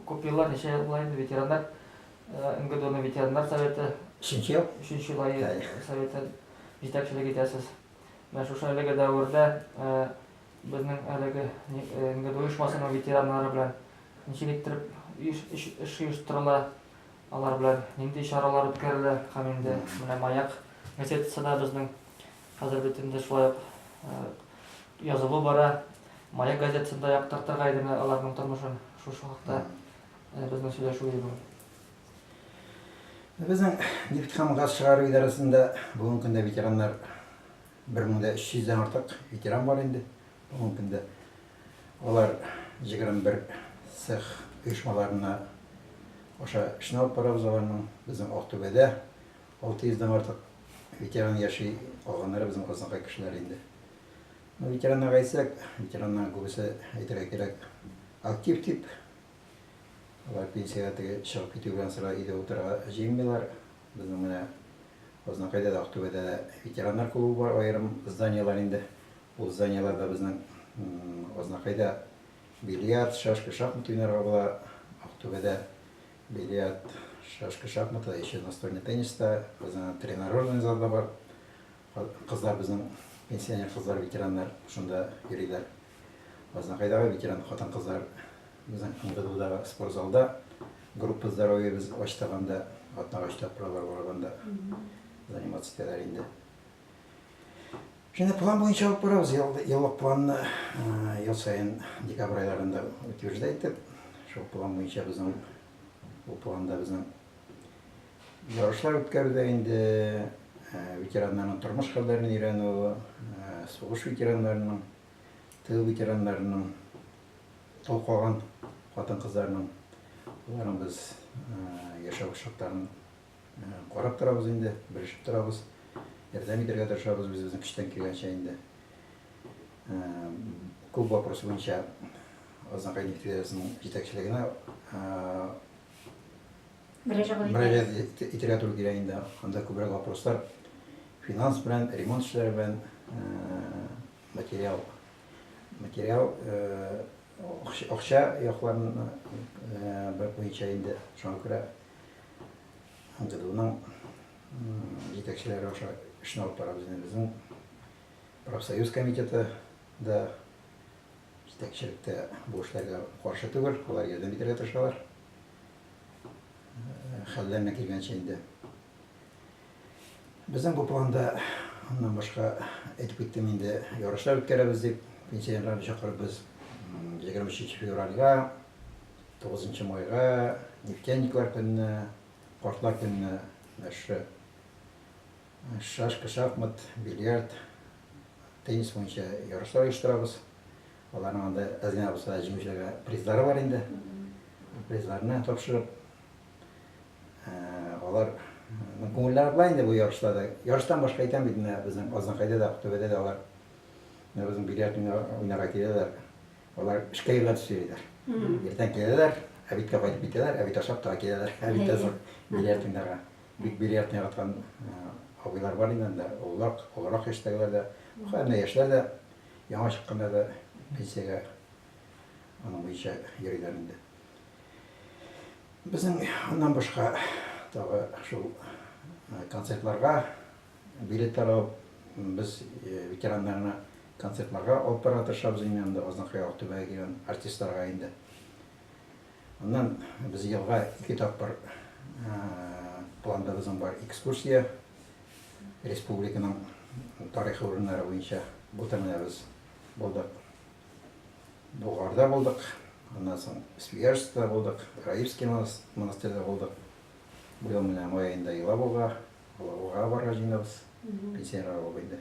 Күп еллар, ничә ел була инде, ветераннар МГДУның ветераннар советы. Өченче ел. Өченче ел ае советы җитәкчелек итәсез. Менә шушы әлеге дәвердә безнең әлеге МГДУ оешмасының ветераннары белән ничек иттереп эш оештырыла, алар белән нинди чаралар үткәрелә һәм инде менә Маяк газетасы да безнең Хәзер бит инде шулай ук язылу бара. Маяк газетасында яктыртырга иде менә аларның тормышын. Шушы хакта безнең сөйләшү иде бүген. Безнең нефть һәм газ чыгару идарәсендә бүгенге көндә ветераннар 1300 дән артык ветеран бар инде. Бүгенге көндә алар 21 цех оешмаларына аша эшне алып барабыз аларның. Безнең Актүбәдә Алты йөздән артык ветеран яши, калганнары безнең Казанга кешеләр инде. Ну, ветераннарга әйтсәк, ветераннарның күбесе, әйтергә кирәк, актив тип. Алар пенсиягә теге чыгып китү белән сыра өйдә утырырга җыенмыйлар. Безнең менә Азнакайда да, Актүбәдә дә ветераннар клубы бар, аерым зданиелар инде. Ул зданиеларда безнең Азнакайда бильярд, шашка, шахмат уйнарга була, Актүбәдә Бильярд, шашка, шахматта, ещё настольный тенниста, безнең тренажерный зал да бар. Кызлар безнең пенсионер кызлар, ветераннар шунда йөриләр. Азнакайдагы ветеран хатын-кызлар безнең МГДУдагы спорт залда группа здоровья без ачтык анда, атнага өч тапкыр алар барып анда заниматься итәләр инде. Шуны план буенча алып барабыз. Еллык планны ел саен декабрь айларында утверждай итеп, шул план буенча безнең бу планда безнең ярышлар үткәрүдә инде ветераннарның тормыш хәлләрен өйрәнү, сугыш ветераннарының, тыл ветераннарының, тол калган хатын-кызларның, аларның без яшәү шартларын Карап торабыз инде, белешеп торабыз, ярдәм итәргә тырышабыз үзебезнең көчтән килгәнчә инде. Күп вопросы буенча Азнакай нефтегазының җитәкчелегенә мөрәҗәгать итәргә туры килә инде. Анда күбрәк вопрослар финанс белән, ремонт эшләре белән, материал, материал, акча якларын буенча инде. Шуңа күрә МГДУның җитәкчеләре аша эшне алып барабыз инде безнең профсоюз комитеты да җитәкчелектә бу эшләргә каршы түгел, алар ярдәм итәргә тырышалар. Хәлләренә килгәнчә инде. Безнең бу планда аннан башка әйтеп киттем инде, ярышлар үткәрәбез дип, пенсионерларны чакырып без 23 февральгә Тугызынчы майга Нефтяниклар көненә, Картлар көненә мәшһүр шашка, шахмат, бильярд, теннис буенча ярышлар оештырабыз. Аларның анда әз генә булса да җиңүчеләргә призлары бар инде. Призларны тапшырып, алар күңелләре була инде бу ярышларда. Ярыштан башка икән бит менә безнең Азнакайда да, Актүбәдә дә алар безнең бильярд уйнарга киләләр. Алар эшкә юнәлтеш йөриләр. Иртән киләләр, әбиткә кайтып китәләр, әбит ашап тора киләләр. Әбит тә зур бильярдиннарга. Бик бильярд яраткан абыйлар бар инде анда, олылар, олырак яшьтәгеләр дә. Хәзер менә яшьләр дә, яңа чыкканнар да пенсиягә аның буенча йөриләр инде. Безнең аннан башка тагы шул концертларга Билетлар алып, без ветераннарны концертларга алып барырга тырышабыз иң әүвәлдә Азнакай Ак Түбәгә килгән артистларга инде. Аннан без елга ике тапкыр планда безнең бар экскурсия республиканың тарихи урыннары буенча былтыр менә без булдык Болгарда булдык, аннан соң Свияжскида булдык, Раевский монастырьда булдык. Быел менә май аенда Елабуга Алабугага барырга җыенабыз. Пенсионерлар клубы инде.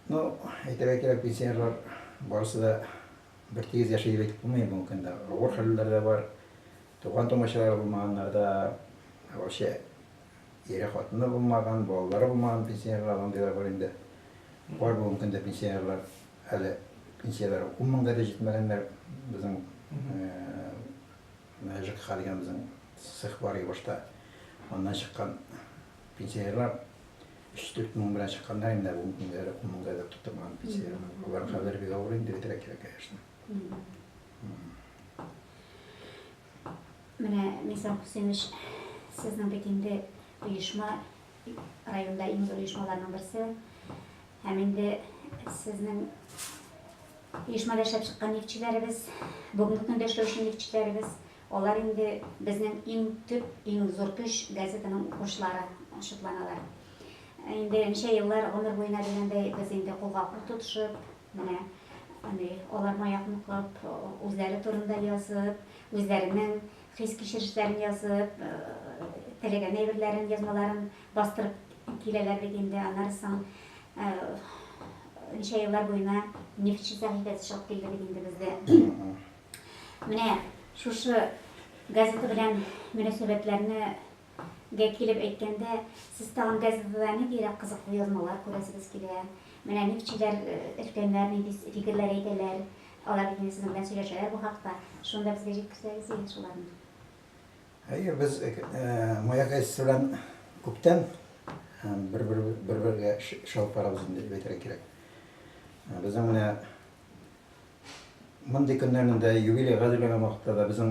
Ну, әйтергә кирәк, пенсионерлар барысы да бер тигез яши дип әйтеп булмый, бүгенге көндә авыр хәлләр дә бар. Туган тумачалары булмаганнар да, вообще ире хатыны булмаган, балалары булмаган пенсионерлар андыйлар бар инде. Бар бүгенге көндә пенсионерлар әле пенсияләре ун меңгә дә җитмәгәннәр безнең Мәҗек Хәлимовның цехы бар иде башта. Аннан чыккан пенсионерлар өч-дүрт мең белән чыкканнар инде, ун меңгә дә, ун меңгә дә тутырмаган пенсионерлар. Алар хәзер бик авыр инде, бетерә кирәк, конечно. Менә, Мирза Хусенович, сезнең бит инде оешма, районда иң зур оешмаларның берсе, Һәм инде сезнең оешмада эшләп чыккан нефтьчеләребез, бүгенге көндә эшләүче нефтьчеләребез, алар инде безнең иң төп, иң зур көч газетаның укучылары шутланалар. Инде ничә еллар гомер буена дигәндәй без инде кулга кул тотышып, менә андый аларны аякны кылып, үзләре турында язып, үзләренең хис-кичерешләрен язып, теләгән әйберләрен, язмаларын Бастырып киләләр бит инде, аннары соң ничә еллар буена нефтьче сәхифәсе чыгып килде бит инде бездә. Менә шушы газета белән мөнәсәбәтләрне гә килеп әйткәндә, сез тагын газетада ниндирәк кызыклы язмалар күрәсегез килә? Менә нефтьчеләр, өлкәннәр нинди фикерләр әйтәләр? Алар бит инде сезнең белән сөйләшәләр бу хакта. Шуны да безгә җиткерсәгез иде шуларны. Әйе, без Маяк әйтисе белән күптән бер-бергә чалып барабыз инде дип әйтергә кирәк. Безнең менә мондый көннәрнең дә юбилей гадиләгән вакытта да безнең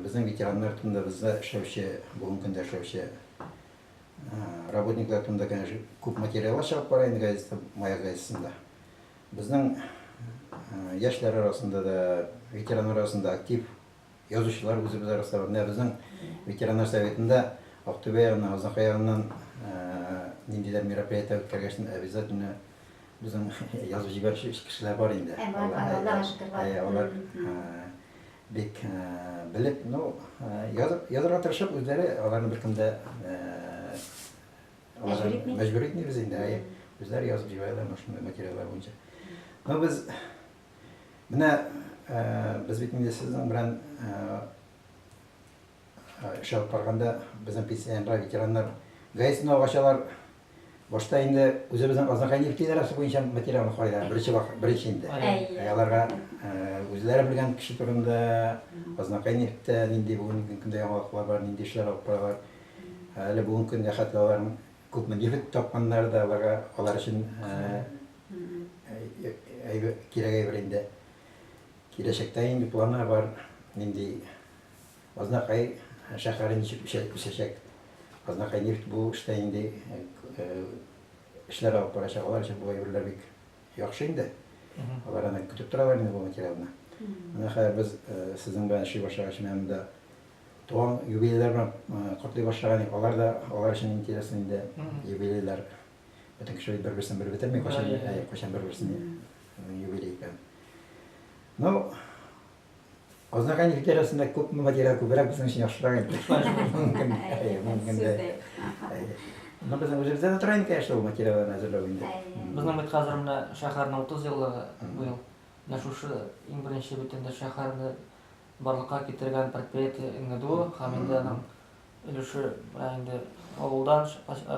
безнең ветераннар турында бездә эшләүче, бүгенге көндә эшләүче работниклар турында, конечно, күп материаллар чыгып бара инде газетта, Маяк газетасында. Безнең яшьләр арасында да, ветераннар арасында актив Язучылар үзебез арасында менә безнең ветераннар советында Актүбә ягыннан, Азнакай ягыннан ниндидер мероприятие үткәргәч, обязательно безнең язып җибәрүче кешеләр бар инде. Ә, бар, бар, Аллага шөкер, бар. Ә, алар бик белеп, ну, язып, язырга тырышып, үзләре аларны беркем дә мәҗбүр итмибез инде, әйе, үзләре язып җибәрәләр шундый материаллар буенча. Ну, без Менә без бит инде сезнең белән эш алып барганда безнең пенсионерлар, ветераннар гаесын алып ачалар. Башта инде үзебезнең Азнакай нефть идарәсе буенча материалны карыйлар, беренче вакыт, беренче инде. Әйе. Ә аларга үзләре белгән кеше турында, Азнакай нефтьтә нинди бүгенге көндә яңалыклар бар, нинди эшләр алып баралар. Әле бүгенге көндә хәтта аларның Күпме нефть тапканнары да аларга, алар өчен кирәк әйбер инде. Киләчәктә инде планы бар, нинди Азнакай шәһәре ничек үсәчәк. Азнакай нефть бу эштә инде эшләр алып барачак, алар өчен бу әйберләр бик яхшы инде. Алар аны көтеп торалар инде бу материалны. Менә хәзер без сезнең белән эшли башлагач, менә монда Туган юбилейлар белән котлый башлаган идек. Алар да, алар өчен интересный инде юбилейлар. Бөтен кеше бит бер-берсен белеп бетерми, кайчан, әй, кайчан бер-берсен юбилей икән. Ну, Азнакай ветерасында күп материал күбрәк безнең өчен яхшырак инде. Мөмкин, әй, мөмкин дә. Ну, безнең үзебездә дә тора инде, конечно, ул материалларны әзерләү инде. Безнең бит хәзер менә шәһәрнең 30 еллыгы быел. Менә шушы иң беренче бит инде шәһәрне барлыкка китергән предприятие НГДУ һәм инде аның өлеше менә инде авылдан,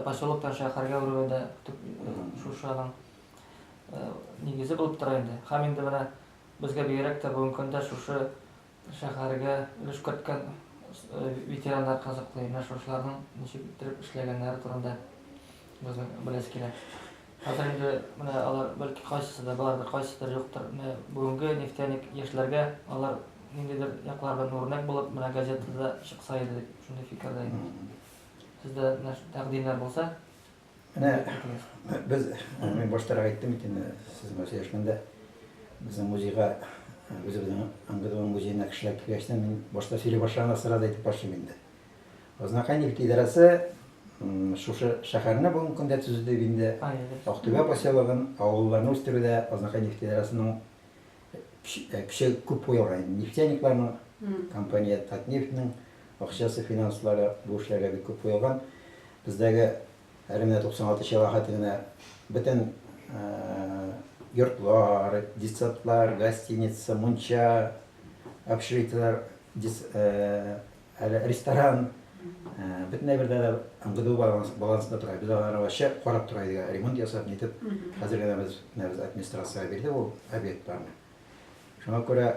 поселоктан шәһәргә әверүе дә төп шушы аның нигезе булып тора инде. Һәм инде менә безгә бигрәк тә бүгенге көндә шушы шәһәргә өлеш керткән ветераннар кызыклы, менә шушыларның ничек иттереп эшләгәннәре турында безнең беләсе килә. Хәзер инде менә алар бәлки кайсысы да бардыр, кайсыдыр юктыр. Менә бүгенге нефтяник яшьләргә алар ниндидер яклардан үрнәк булып, менә газетада чыкса иде дип, шундый фикердә идем. Сездә менә тәкъдимнәр булса, Менә без, мин баштарак әйттем бит инде сезгә сөйләшкәндә, безнең музейга, үзебезнең НГДУның музеена кешеләр килгәч тә, мин башта сөйли башлаганда сразу әйтеп башлыйм инде. Азнакай нефть идарәсе шушы шәһәрне бүгенге көндә төзү дип инде Актүбә поселогын, авылларны үстерүдә Азнакай нефть идарәсенең көче күп куелган. Нефтяникларның компания Татнефтьнең акчасы, финанслары бу эшләргә бик күп куелган. Бездәге әле менә 96 чыга хәтле генә бөтен йортлар, детсадлар, гостиница, мунча, общежитиеләр Әле ресторан, бөтен әйбердә дә НГДУ балансында тора. Без алар ачы карап тора идек, ремонт ясап, нитеп. Хәзер генә без администрациягә бирдек ул объектларны. Шуңа күрә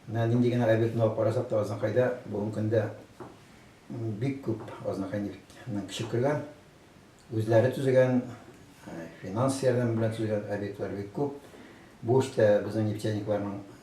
менә нинди генә объектны алып карасак та, Азнакайда бүгенге көндә бик күп Азнакай нефтьнең көче кергән, үзләре төзегән, финанс ярдәме белән төзегән объектлар бик күп. Бу эштә безнең нефтяникларның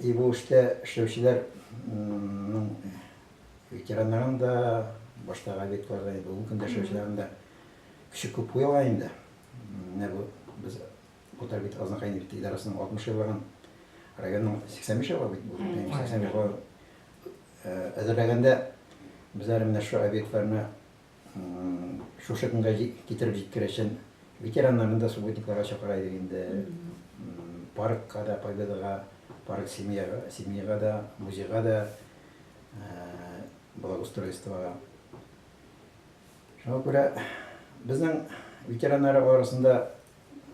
И бу эштә эшләүчеләр ның ветераннарын да, баштагы объектлар да, бүгенге көндә эшләүчеләрен дә көче күп куелган инде. Менә бу без Утар бит Азнакай нефть идарәсенең 60 еллыгын районның 85 еллыгы бит бу. 85 еллыгы әзерләгәндә без әле менә шушы объектларны Шушы көнгә китереп җиткерәчен ветераннарны да субботникларга чакыра идек инде. Паркка да, Победаға, парк семьяга, семьяга да, музейга да, благоустройствоға. Шуңа күрә безнең ветераннар арасында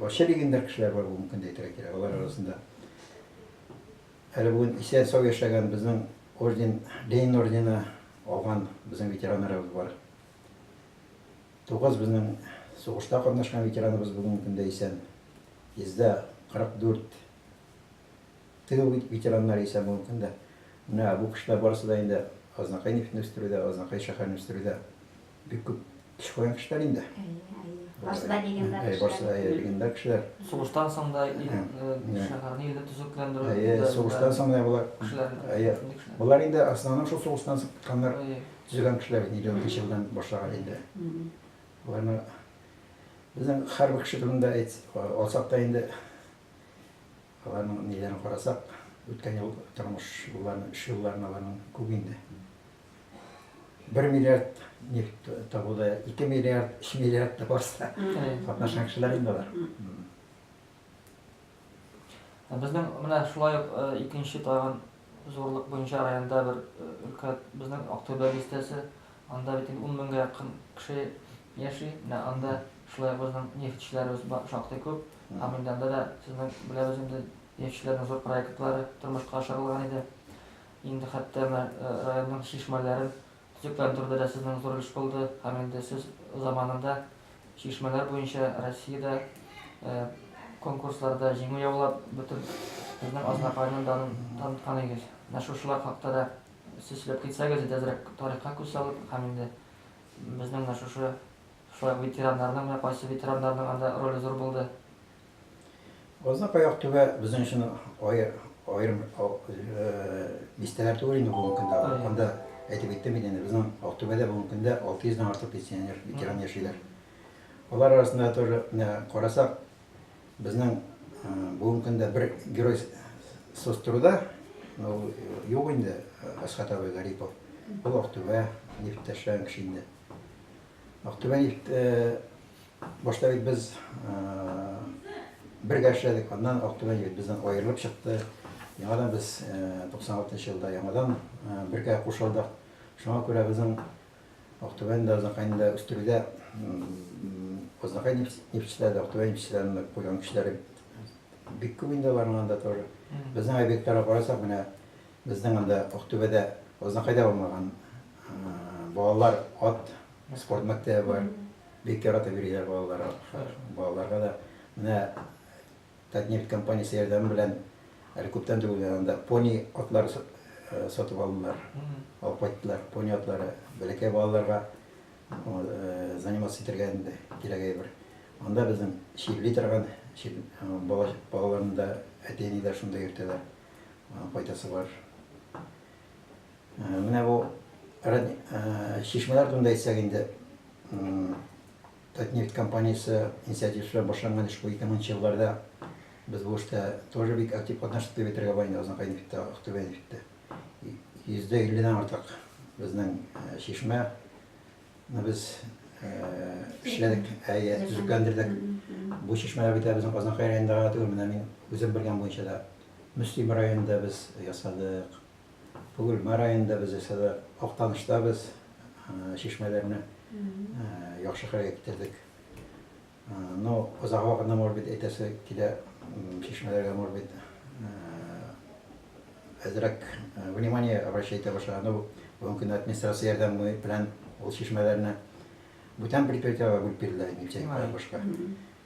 вообще легендар кешеләр бар, бу мөмкин дә әйтергә кирәк, алар арасында. Әле бүген исән-сау яшәгән безнең орден, Ленин ордены алган безнең ветераннарыбыз бар. Тугыз безнең сугышта катнашкан ветераныбыз бүгенге көндә исән. 144 тыл ветераннары исән бүгенге көндә. Менә бу кешеләр барысы да инде Азнакай нефтен үстерүдә, Азнакай шәһәрен үстерүдә Бик күп теш куйган кешеләр инде. Барсы да легендар кешеләр. Барсы да легендар кешеләр. Сугыштан соң да шәһәрне илне төзекләндерү. Әйе, сугыштан соң да болар кешеләр. Әйе. Болар инде основном шул сугыштан соң киткәннәр. Төзегән кешеләр бит 50 елдан башлаган инде. Боларны безнең һәрбер кеше турында алсак та инде аларның ниләрен карасак, үткән ел тормыш юлларын, эш юлларын аларның күп инде. бер миллиард нефть табуда ике миллиард өч миллиард да барса катнашкан кешеләр инде алар безнең менә шулай ук икенче тагын зурлык буенча районда бер өлкә безнең актүбә бистәсе анда бит ун меңгә якын кеше яши менә анда шулай безнең нефтьчеләребез шактый күп һәм инде анда да сезнең беләбез инде нефтьчеләрнең зур проектлары тормышка ашырылган иде Инде хәтта менә районның чишмәләрен төзекләндерү дә сезнең зур өлеш булды һәм инде сез заманында чишмәләр буенча Россиядә конкурсларда җиңү яулап, бөтен безнең Азнакайның данын таныткан идегез. Менә шушылар хакта да сез сөйләп китсәгез иде әзрәк тарихка күз салып һәм инде безнең менә шушы шулай ук ветераннарның менә кайсы ветераннарның анда роле зур булды. Азак аяк түбә безнең өчен аерым бистәләр түгел инде бүгенге көндә. Анда әйтеп киттем бит инде, безнең Актүбәдә бүгенге көндә 600 дән артык пенсионер, ветеран яшиләр. Алар арасында тоже карасак, безнең бүгенге көндә бер герой сострода, ну, юк инде, Асхат абый Гарипов. Ул Актүбә, нефтьтәшчән кеше инде. Актүбә нефть башта бит без бергә эшләдек, аннан Актүбә нефть бездән аерылып чыкты. Яңадан без 96 елда яңадан бергә кушылдык. Шуңа күрә безнең Актүбәне дә Азнакайны да үстерүдә Азнакай нефтьчеләре дә Актүбә нефтьчеләренә куйган көчләре бик күп инде аларның анда тоже. Безнең объектларга карасак, менә безнең анда Актүбәдә, Азнакайда булмаган Балалар ат спорт мәктәбе бар. Бик яратып йөриләр балалар атка. Балаларга да менә Татнефть компаниясе ярдәме белән әле күптән түгел генә анда пони атлар сатып алдылар. Алып кайттылар. Пони атлары бәләкәй балаларга заниматься итәргә инде кирәк әйбер. Анда безнең чирли торган балаларны да әти-әниләр шунда йөртәләр. Файдасы бар. Менә бу чишмәләр турында әйтсәк инде, Татнефть компаниясе инициативасы башланган эш бу. 2000 елларда без бу эштә тоже бик актив катнаштык дип әйтергә була инде Азнакай нефтьтә, Актүбә нефтьтә. 50 дән артык безнең чишмә ны без эшләдек, әйе, төзекләндердек. Бу чишмәләр бит безнең Азнакай районында гына түгел, менә мин үзем белгән буенча да Мөслим районында без ясадык. Бөгелмә районында без ясады, Актанышта без чишмәләрне яхшыга иттердек. Ну, озак вакытны, может быть, әйтәсе килә, чишмәләргә, может быть, әзрәк внимание обращать итә башлаган. Ну, бүгенге көндә администрация ярдәме белән ул чишмәләрне бүтән предприятиеләргә бүлеп бирделәр, нефтяникка, башка.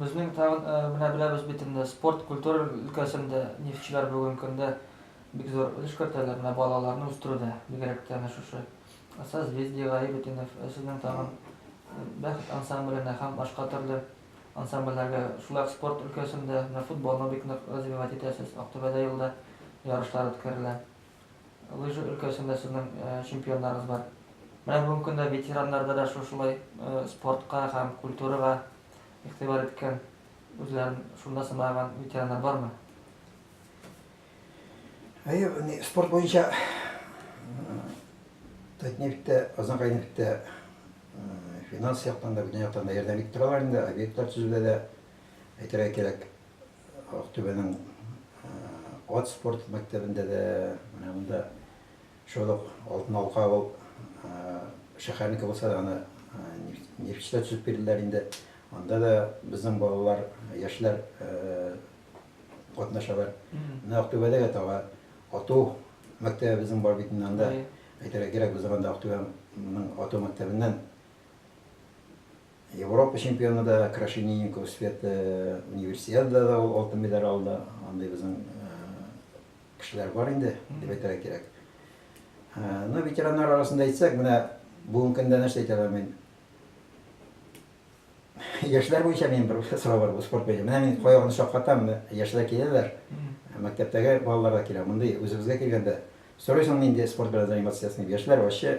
Безнең тагын менә беләбез бит инде, спорт, культура өлкәсендә нефтьчеләр бүгенге көндә бик зур өлеш кертәләр менә балаларны үстерүдә, бигрәк тә әнә шушы Созвездие, Гаибетдинов, сезнең тагын Бәхет ансамбленә һәм башка төрле ансамбльләргә, шулай ук спорт өлкәсендә менә футболны бик нык развивать итәсез, Актүбәдә елда ярышлар үткәрелә. Лыжа өлкәсендә сезнең чемпионнарыгыз бар. Менә бүгенге көндә ветераннарда да шушылай спортка һәм культурага игътибар иткән, үзләрен шунда сынаган ветераннар бармы? Әйе, менә спорт буенча Татнефтьтә, Казанкайнефтьтә финанс яктан да, бүтән яктан да ярдәм итеп торалар инде, объектлар төзүдә дә, әйтергә кирәк. Актүбәнең ат спорт мәктәбендә дә, менә монда шул ук Алтын Алка авыл шәһәрнеке булса да, аны Нефтьчедә төзеп бирделәр инде. Анда да безнең балалар, яшьләр катнашалар. Менә Актүбәдә дә тагы ату мәктәбебезнең бар бит инде анда. Әйтергә кирәк, безнең анда Актүбәнең ату мәктәбеннән Европа чемпионы да Крашенинникова Света, Универсиадада да ул алтын медаль алды. Андый безнең кешеләр бар инде, дип әйтергә кирәк. Ну, ветераннар арасында әйтсәк, менә бүгенге көндә нәрсә әйтә алам мин? Яшьләр буенча мин бер сорау бар, спорт буенча. Менә мин каягын шаккатам, яшьләр киләләр, мәктәптәге балалар да килә. Мондый үзебезгә килгәндә, сорыйсың нинди спорт белән заниматься итәсең? Яшьләр вообще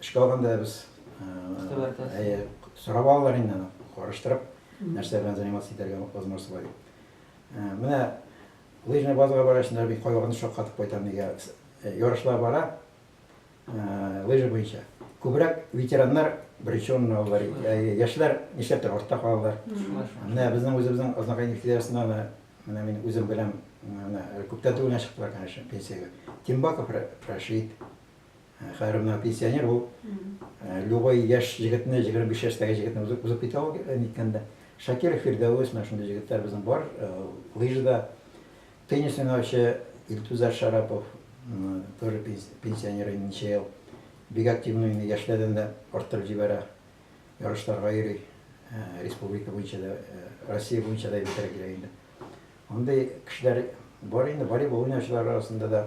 Эшкә алганда без сорап алалар инде аны, караштырып, нәрсә белән заниматься итәргә возможность бар дип. Менә лыжный базага баргач, инде мин кайвакытны шаккатып кайтам, нигә ярышлар бара лыжа буенча. Күбрәк ветераннар беренче урынны алалар, яшьләр нишләптер артта калалар. Менә безнең үзебезнең Азнакай нефтегазында да, менә мин үзем беләм, менә күптән түгел генә чыктылар, конечно, пенсиягә. Тимбаков Рәшит. Хәер, менә пенсионер ул любой яшь җегетне, 25 яшьтәге җегетне узып узып китә ул ниткәндә. Шакиров Фирдәвес, менә шундый җегетләр безнең бар, лыжда. Теннис уйнаучы Илтузар Шарапов, тоже пенсионер инде ничә ел. Бик активный уйный, яшьләрдән дә арттырып җибәрә. Ярышларга йөри, республика буенча да, Россия буенча да әйбәтрәк йөри инде. Андый кешеләр бар инде, волейбол уйнаучылар арасында да.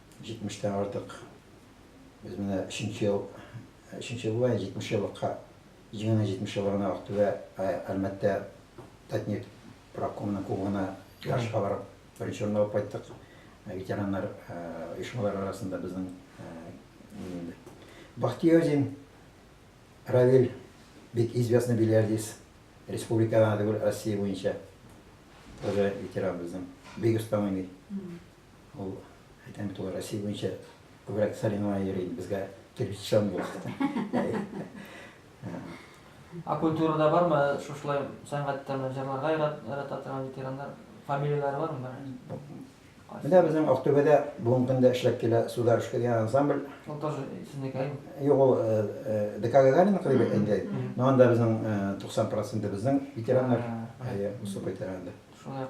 Җитмештән артык. Без менә өченче ел, өченче ел була, җитмеш еллыкка, җиңүнең җитмеш еллыгына Актүбә, Әлмәттә Татнефть правкомының кубогына ярышка барып, беренче урын алып кайттык. Ветераннар оешмалары арасында безнең Бахтиозин Равил бик известный бильярдист, республика гына түгел, Россия буенча тоже ветеран безнең, бик оста уйный. Ул, әйтәм бит, ул Россия буенча күбрәк соревнование йөри инде, безгә килеп җитә алмый. Ә культурада бармы шушылай сәнгатьтә җырларга ярата торган ветераннар? Фамилияләре бармы? Менә безнең Актүбәдә бүгенге көндә эшләп килә Сударушка дигән ансамбль. Ул тоже сезнеке? Юк, ул ДК Гагарина клубы инде. Но анда безнең 90% безнең ветераннар. Әйе, Усып ветераны. Шулай